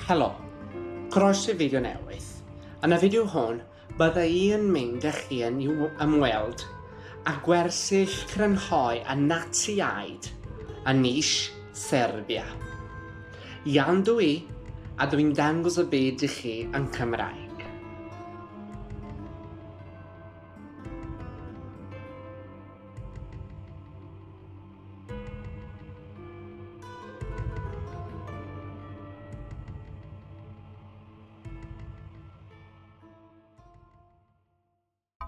Helo, croeso i fideo newydd. Yn y fideo hwn, bydda i yn mynd â chi yn i'w ymweld a gwersyll crynhoi a Natsiaid yn nis Serbia. Iawn dw i, a dw i'n dangos y byd i chi yn Cymraeg.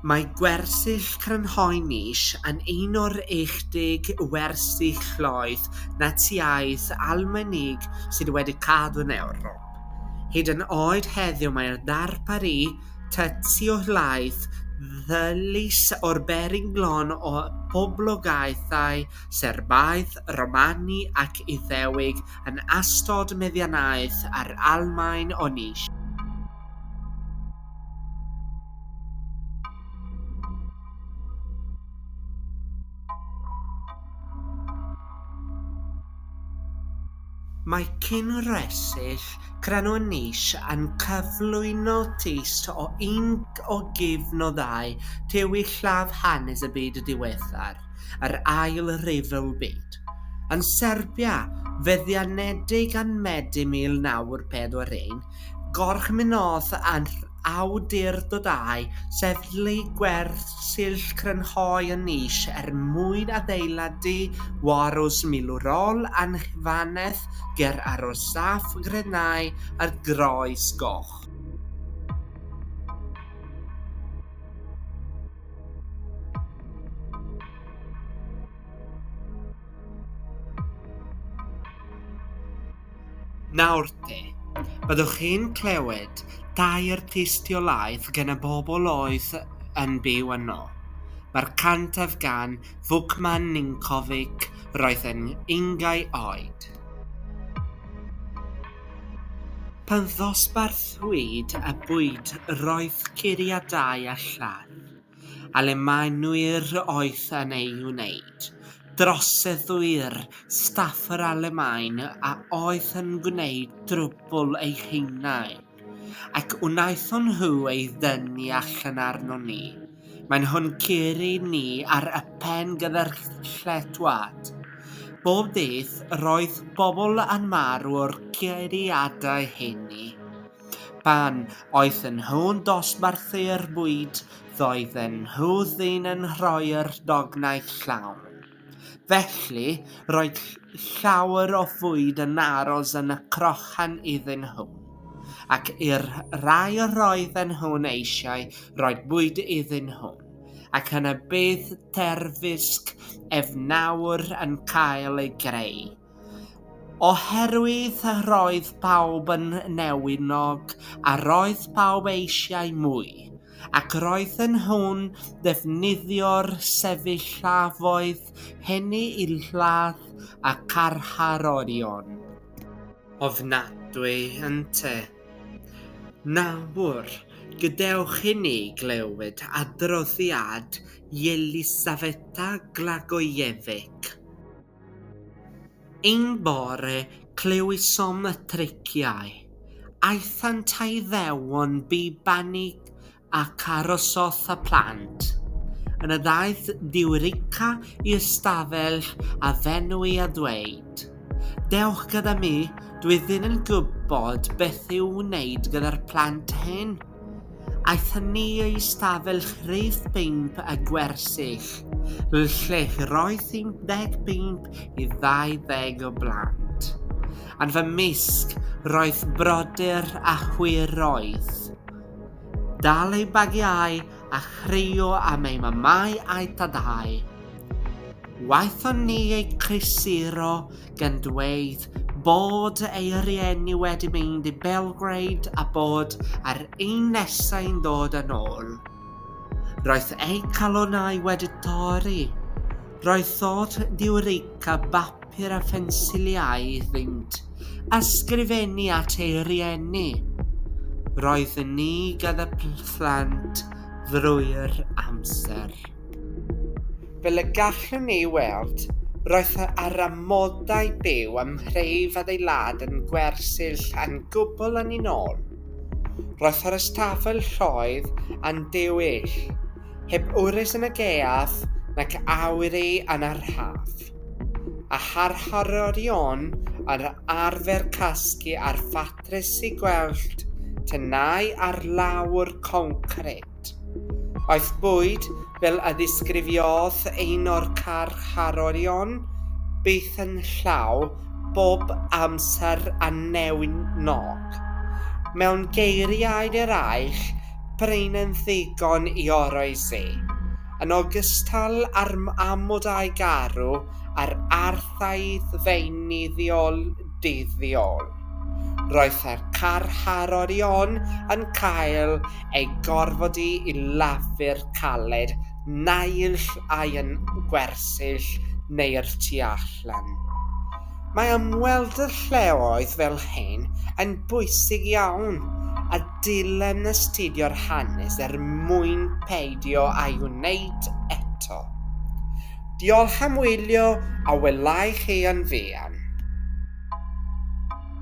Mae gwersyll crynhoi nis yn un o'r 10 wersyll llooedd Natsïaidd Almaenig sydd wedi cadw'n Ewrop. Hyd yn oed heddiw mae'r darpar Y Tystiolaeth ddilys o'r beryg glon o boblogaethau Serbaaidd, Romani ac Iddewig yn ystod meddiannaeth yr Almaen o nis. Mae cynhwysyll Crannau Nis yn cyflwyno tyst o un o gyfnodau tywyllaf hanes y byd diweddar, yr Ail Ryfel Byd. Yn Serbia, feddianedig ym Medi 1941, gorchmynnodd awdurdodau sefydlu gwersyll crynhoi yn nis er mwyn adeiladu warws milwrol anghydfannedd ger arosaf Grenau ar Groes Goch. Nawr te, byddwch chi'n clywed tair tystiolaeth gan y bobl oedd yn byw yno. Mae'r cyntaf gan Vukman Ninkovic, roedd yn ungau oed. Pan ddosbarthwyd y bwyd roedd curiadau a lladd. a le mae nwyr oeth yn ei wneud. Droseddwyr, staff yr Alemaen a oedd yn gwneud drwbwl eu hunain, ac wnaethon nhw ei ddynnu allan arnon ni. Maen nhw'n curo ni ar y pen gyda'r lletwad. Bob dydd, roedd pobl yn marw o'r curiadau hynny. Pan oedden nhw'n dosbarthu'r bwyd, roedden nhw ddim yn rhoi'r dognau llawn. Felly, roedd llawer o fwyd yn aros yn y crochan iddyn nhw. Ac i'r rhai yr oedden nhw'n eisiau rhoi bwyd iddyn nhw, ac yna bydd terfysg efnawr yn cael ei greu. Oherwydd yr oedd pawb yn newynog, a roedd pawb eisiau mwy, ac roedden nhw'n defnyddio'r sefyllfaoedd hynny i ladd y carcharorion. Ofnadwy, ynte? Nawr, gadewch i ni glywed adroddiad Jelisafeta Glagojevic. Un bore clywsom y triciau. Aethant a Iddewon bu banni ac arosodd y plant. Yna ddaeth Diwrica i ystafell a fenwi a dweud, Dewch gyda mi, dwi ddim yn gwybod beth i'w wneud gyda'r plant hyn. Aeth ni i stafell rhif pump y gwersyll, lle roedd 15 i 20 o blant. Ar fy mysg, roedd brodyr a chwiroedd. Dal eu bagiau a chrio am eu mamau a'u tadau. Waethon ni eu crisuro gan dweud bod ei rieni wedi mynd i Belgrade a bod ar ein nesau'n dod yn ôl. Roedd ei calonau wedi torri. Roedd thod diwrica bapur a phensiliau iddynt a sgrifennu at ei rieni. Roedd ni gyda phlant drwy'r amser. Fel y gallwn ni ei weld, roedd yr amodau byw ym mhreif adeilad yn gwersyll yn gwbl anninnol. Roedd yr ystafell lloedd yn dywyll, heb wres yn y gaeaf nac awyru yn yr haf, a harhorion yr arfer casglu ar ffatrisi gwellt tenau ar lawr concrid. Aeth bwyd, fel a ddisgrifiodd un o'r carcharorion, byth yn llaw bob amser a newyn nog. Mewn geiriau eraill, prin yn ddigon i oroesi. Yn ogystal â'r amodau garw a'r arfau feunyddiol dyddiol, roedd y carcharorion yn cael ei gorfodi i lafu'r caled naill ai yn gwersyll neu'r tu allan. Mae ymweld y lleoedd fel hyn yn bwysig iawn a dylem astudio'r hanes er mwyn peidio â'i wneud eto. Diolch am wylio a welai chi yn fuan.